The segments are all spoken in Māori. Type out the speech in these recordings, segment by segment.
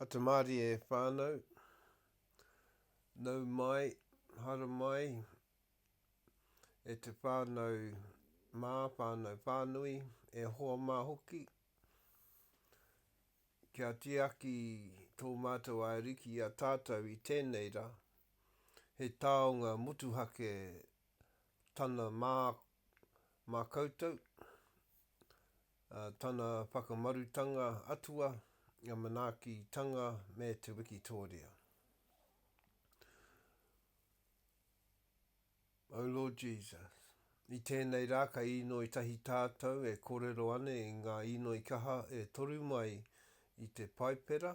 A te marie e whanau, nau mai, hara mai, e te whanau ma, whanau whanui, e hoa ma hoki, kia tiaki to matou Ariki i a tatou i tenei ra, he taonga motuhake tana ma, ma koutou, tana whakamarutanga atua, ngā manaakitanga me te wikitōria. Oh Lord Jesus, i tēnei rā kei inoi tahi tātou e kōrero ana i ngā inoi kaha e toru mai i te Paipera,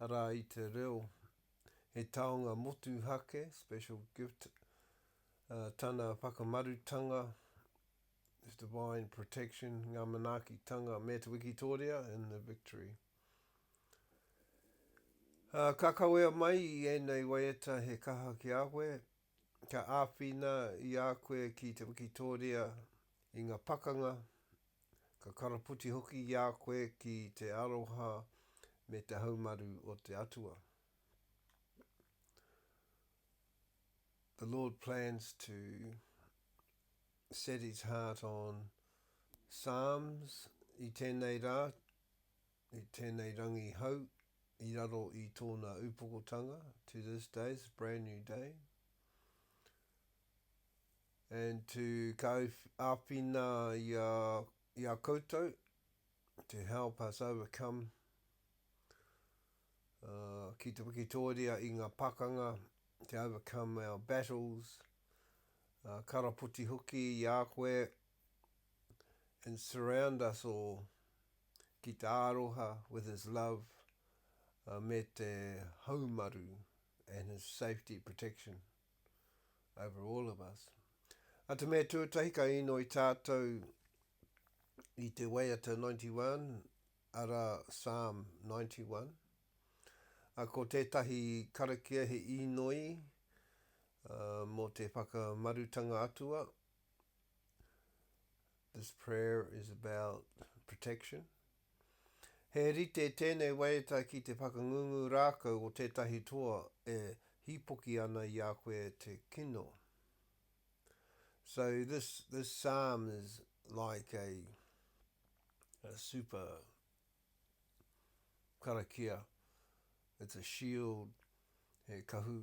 arā i te reo he taonga motuhake, special gift, uh, tana whakamarutanga, his divine protection, ngā manaakitanga me te wikitōria in the victory. Uh, ka kawea mai i ēnei waiata he kaha ki a koe, kia āwhina i a koe ki te wikitōria i ngā pakanga, ka karaputi hoki i a koe ki te aroha me te haumaru o te Atua. The Lord plans to set his heart on Psalms i tēnei rā, I tēnei rangi hau, i raro i tōna upokotanga, to this day, it's a brand new day, and to ka āwhina i a, i a koutou, to help us overcome, uh, ki te wikitōria i ngā pakanga, to overcome our battles, uh, karapoti hoki i a koe, and surround us all. ki te aroha, with his love, me te haumaru, and his safety, protection, over all of us. A te mea tuatahi ka inoi tātou i te waiata 91, arā Psalm 91. A ko tētahi karakia he inoi uh, mō te whakamarutanga atua, This prayer is about protection. He rite tēnei waiata ki te whakangungu rākau o tētahi toa e hīpoki ana i a koe te kino. So this, this psalm is like a, a super karakia. It's a shield, he kahu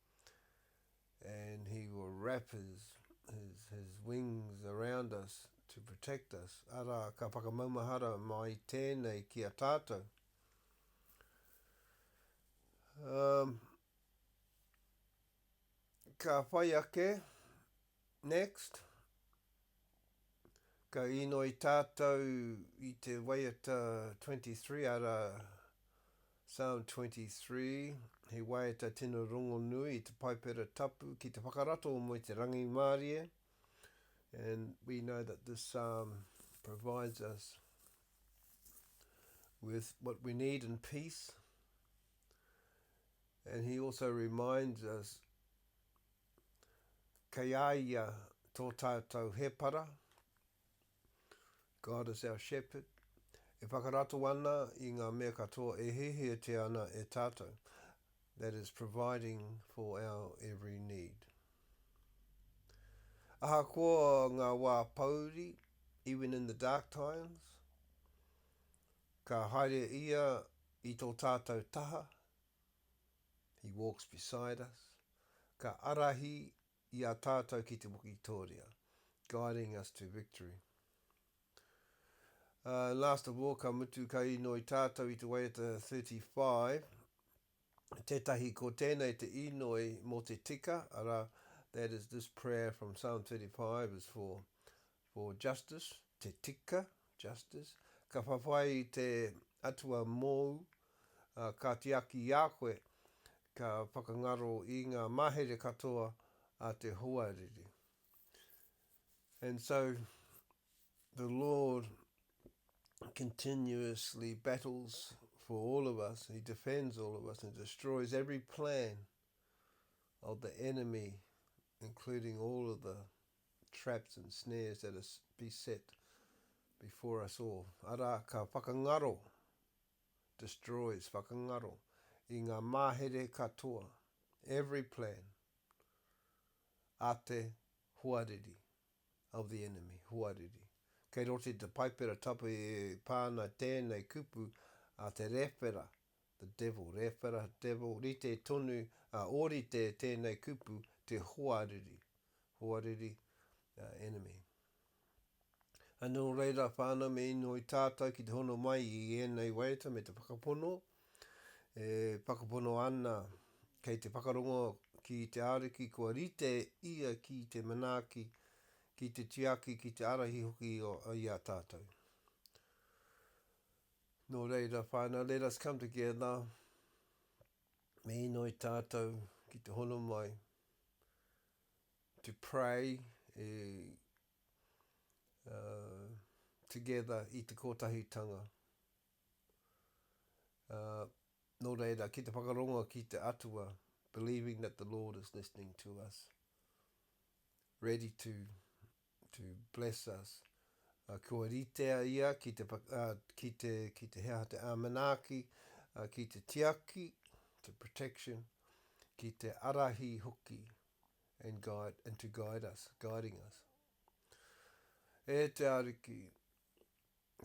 and he will wrap his, his, his wings around us to protect us. Arā, ka whakamaumahara mai tēnei ki a tātou. Um, ka whai ake Next Ka inoi tatou i te waiata 23 ara Sound 23 He waiata tino rongonui i te Paipera Tapu ki te whakarato o Moe te Rangimārie and we know that this psalm provides us with what we need in peace and he also reminds us kei a ia tō tātou hēpara, God is our shepherd, e whakarato ana i ngā mea katoa e hiahiatia ana e tātou, that is providing for our every need. Ahakoa ngā wā pouri, even in the dark times, ka haere ia i tō tātou taha, He walks beside us, ka arahi i a tātou ki te wikitōria, guiding us to victory. Uh, last of all, ka mutu ka inoi tātou i te waiata 35, tētahi ko tēnei te inoi mō te tika, ara, that is this prayer from Psalm 35 is for For justice, te tika, justice, ka whawhai i te Atua mōu, ā, ka tiaki i a koe, ka whakangaro i ngā mahere katoa a te hoariri. And so the Lord continuously battles for all of us, He defends all of us and destroys every plan of the enemy, including all of the traps and snares that are beset before us all, arā, ka whakangaro, destroys, whakangaro, i ngā mahere katoa, every plan, a te hoariri, of the enemy, hoariri. Kei roto i te Paipera Tapu e pā ana tēnei kupu a te rewhera the devil, rēwhera, devil, rite tonu, ā, ōrite tēnei kupu, te hoariri, hoariri, ā, enemy. Ā, nō reira, whānau, me inoi tātou ki te hono mai i ēnei waiata me te whakapono, e whakapono ana kei te whakarongo ki te Ariki kua rite Ia ki te manaaki, ki te tiaki, ki te arahi hoki i a tātou. Nō reira, whānau, let us come together, me inoi tātou ki te hono mai, to pray e, uh, together i te kōtahitanga. Uh, nō reira, ki te whakarongo ki te Atua, believing that the Lord is listening to us, ready to to bless us, uh, kua ritea ia ki te, uh, ki te, ki te hea te āmanaaki, uh, ki te tiaki, to protection, ki te arahi hoki, and guide, and to guide us, guiding us. E te Ariki,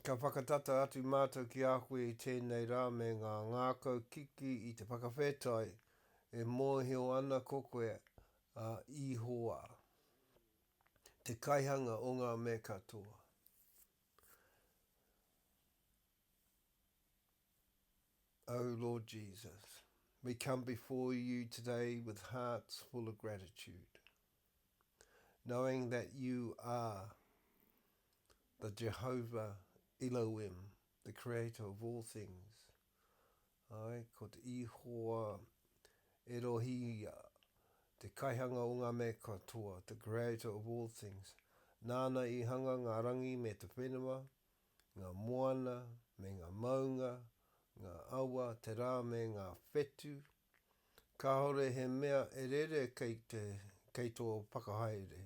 ka whakatata atu mātou ki a koe i tēnei rā me ngā ngākau kiki i te whakawhetai, e mōhio ana ko koe a Ihowa. te kaihanga o ngā me katoa. Oh Lord Jesus, we come before you today with hearts full of gratitude, knowing that you are the Jehovah Elohim, the creator of all things, Āe, ko te Ihowa Erohi ia, te Kaihanga o ngā mea katoa, the Creator of all things. Nāna i hanga ngā rangi me te whenua, ngā moana me ngā maunga, ngā awa, te rā me ngā whetū. Kāore he mea e rere kei te, kei tō whakahaere.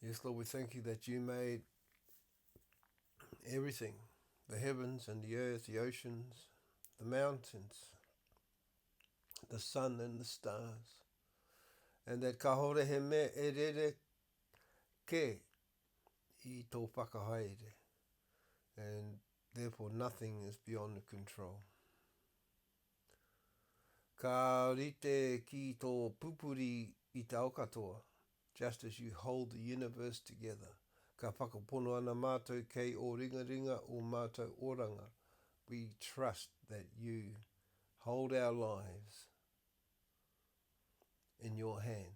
Yes, Lord, we thank you that you made Everything, the heavens and the earth, the oceans, the mountains, the sun and the stars, and that kahore he me e rere ke i tō whakahaere, and therefore nothing is beyond the control. Ka rite ki tō pupuri i te ao katoa, Just as you hold the universe together, ka whakapono ana mātou kei ō ringaringa ō mātou oranga, we trust that you hold our lives in your hands.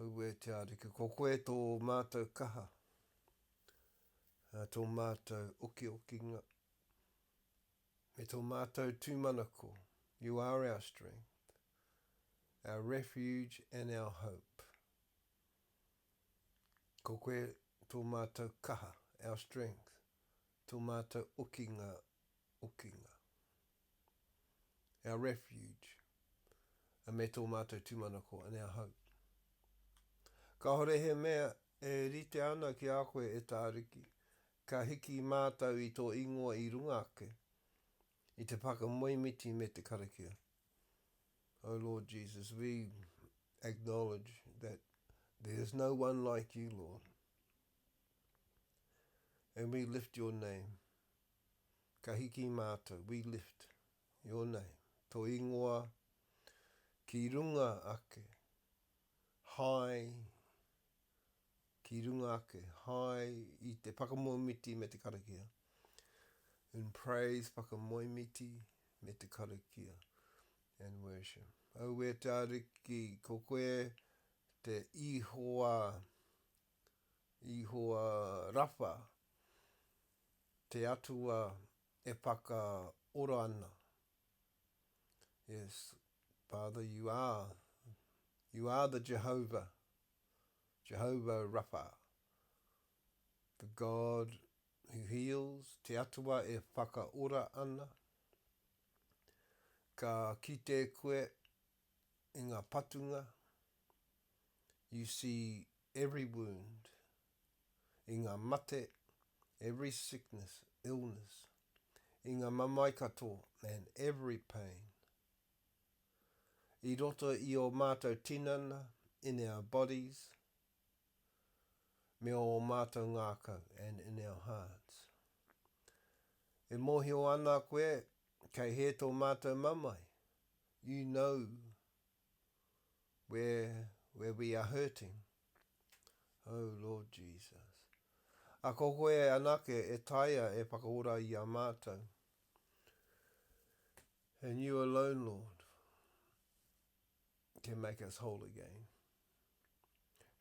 Aue te Ariki, ko koe tō mātou kaha, tō mātou okiokinga, Me tō mātou tūmanako, You are our strength, our refuge and our hope. Ko koe tō mātou kaha, our strength, tō mātou okinga, okinga. Our refuge, a me tō mātou tūmanako, and our hope. Kāore he mea e rite ana ki a koe, e Tāriki, Ka hiki mātou i tō ingoa i runga ake, i te whakamoemiti me te karakia. Oh Lord Jesus, we acknowledge that there is no one like you, Lord. And we lift your name. Ka hiki mātou, we lift your name, tō ingoa ki runga ake, hai ki runga ake, hai i te whakamoemiti me te karakia, in praise, whakamoemiti me te karakia, and worship. Aue te Ariki, ko koe te Ihowa, Ihowa Rapha, te Atua e whakaora ana, Yes, Father, you are, you are the Jehovah, Jehovah Rapha, the God who heals, te Atua e whakaora ana. Ka kite koe, i ngā patunga, you see every wound, i ngā mate, every sickness, illness, i ngā mamae katoa, and every pain. I roto i ō mātou tinana, in our bodies, me ō mātou ngākau, and in our hearts. E mōhio ana koe, kei hē tō mātou mamae, you know where, where we are hurting. Oh, Lord Jesus. A ko koe anake e taea e whakaora i a mātou. And you alone, Lord, can make us whole again.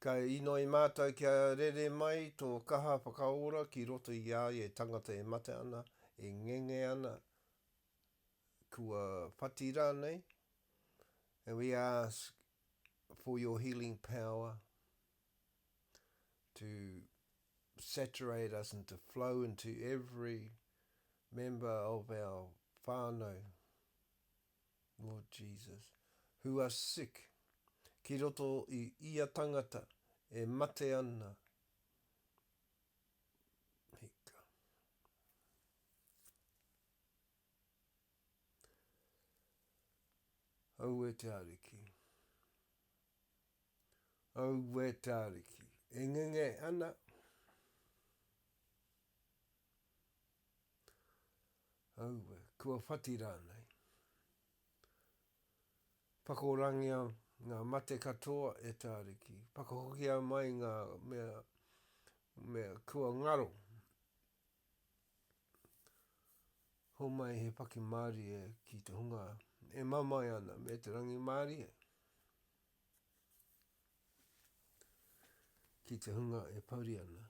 Ka inoi mātou kia rere mai tō kaha whakaora ki roto i a ia e tangata e mate ana, e ngenge ana, kua whati rānei, and we ask for your healing power to saturate us and to flow into every member of our whānau. Lord Jesus. Who are sick, ki roto i ia tangata e mate ana. Hika. Aue te Ariki. Aue te Ariki. E ngenge ana. Aue, kua whati rānei. Whakorangia ngā mate katoa e Tāriki, whakahokia mai ngā mea, mea kua ngaro. Homai he whakimārie ki te hunga e mamae ana me te rangimārie. Ki te hunga e pouri ana.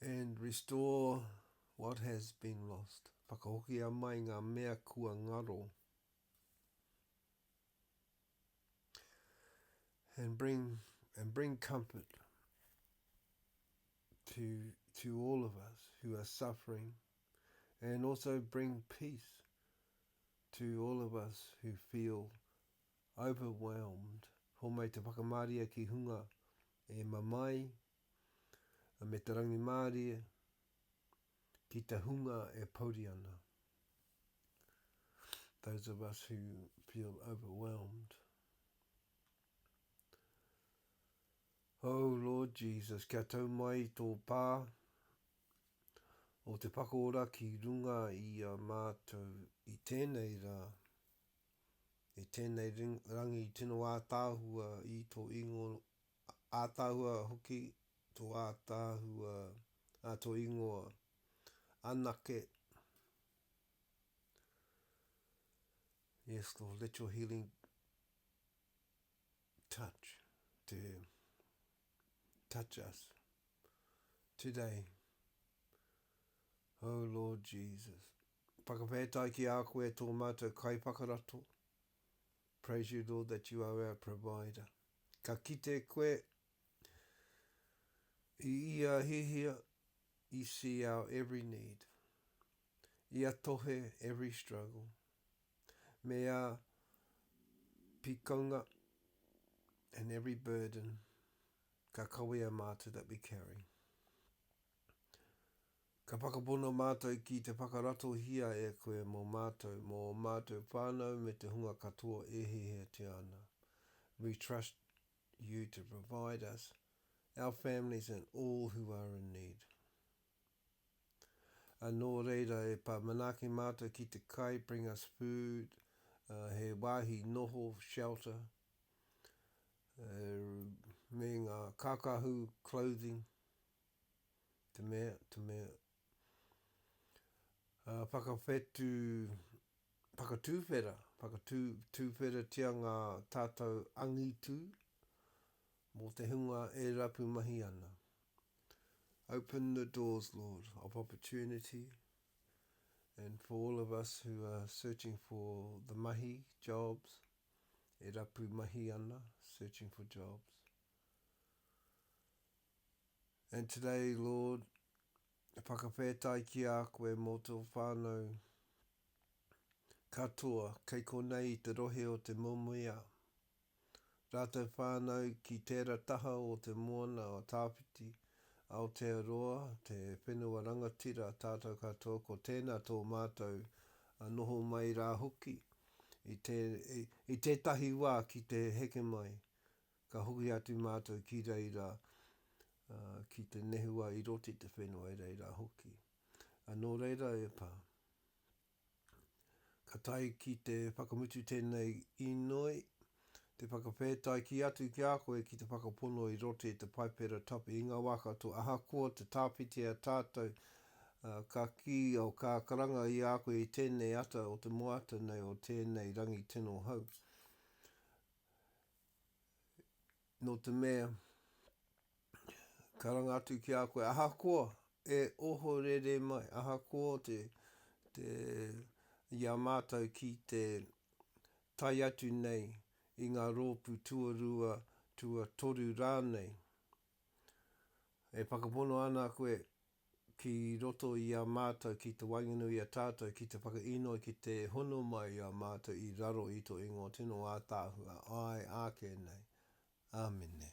And restore what has been lost. Whakahokia mai ngā mea kua ngaro. And bring, and bring comfort to, to all of us who are suffering. And also bring peace to all of us who feel overwhelmed. Homai te whakamāria ki hunga e mamae, me te rangimārie ki te hunga e pouri ana. Those of us who feel overwhelmed. Oh Lord Jesus, kia tau mai tō pā o te whakaora ki runga i a mātou i tēnei rā, i tēnei rangi tino ātaahua i tō ingo ātaahua hoki tō ātaahua, ā, tō ingoa anake. Yes, Lord, let your healing touch te touch us today. Oh Lord Jesus, whakawhētai ki a koe tō mātou kai whakarato, Praise you Lord that you are our provider Ka kite koe i ia hihia You see our every need Ia tohe every struggle Me a pikonga and every burden Ka kawea mātou that we carry Ka whakapono mātou ki te whakaratohia e koe mō mātou, mō ō mātou whānau me te hunga katoa e hiahiatia ana. We trust you to provide us, our families and all who are in need. Ā, nō reira e pā manaaki mātou ki te kai, bring us food, ā, he wāhi noho, shelter, ā, me ngā kākahu, clothing. Te mea, te mea. Ā, whakawhetū, whakatūwhera, whakatū, tūwheratia ngā tātou angitū mō te hunga e rapu mahi ana. Open the doors, Lord, of opportunity and for all of us who are searching for the mahi, jobs, e rapu mahi ana, searching for jobs. And today, Lord, whakawhetai ki a koe mō tō whānau katoa kei konei i te rohe o Te Momoiā, rātou whānau ki tēra taha o te moana o Tāwhiti, Aotearoa, te whenua rangatira tātou katoa ko tēnā tō mātou noho mai rā hoki i tētahi wā ki te heke mai. Ka hoki atu mātou ki reira, ā, ki te nehua i roto i te whenua e reira hoki. Ā, nō reira e pā. Ka tae ki te whakamutu tēnei inoi, te whakawhētaiki atu ki a koe ki te whakapono i roto i te Paipera Tapu i ngā wā katoa, ahakoa te tāwhitia tātou, ā, ka kī au ka karanga i a koe i tēnei ata o te moata nei o tēnei rangi tino hou. nō te mea, karanga atu ki a koe, ahakoa e ohorere mai, ahakoa te, te, i a mātou ki te tae atu nei i ngā rōpū tuarua, tuatoru rānei, e whakapono ana koe ki roto i a mātou ki te waenganui i a tātou ki te whakainoi ki te hono mai i a mātou i raro i tō ingoa tino ātaahua, āe āke nei. Āmine.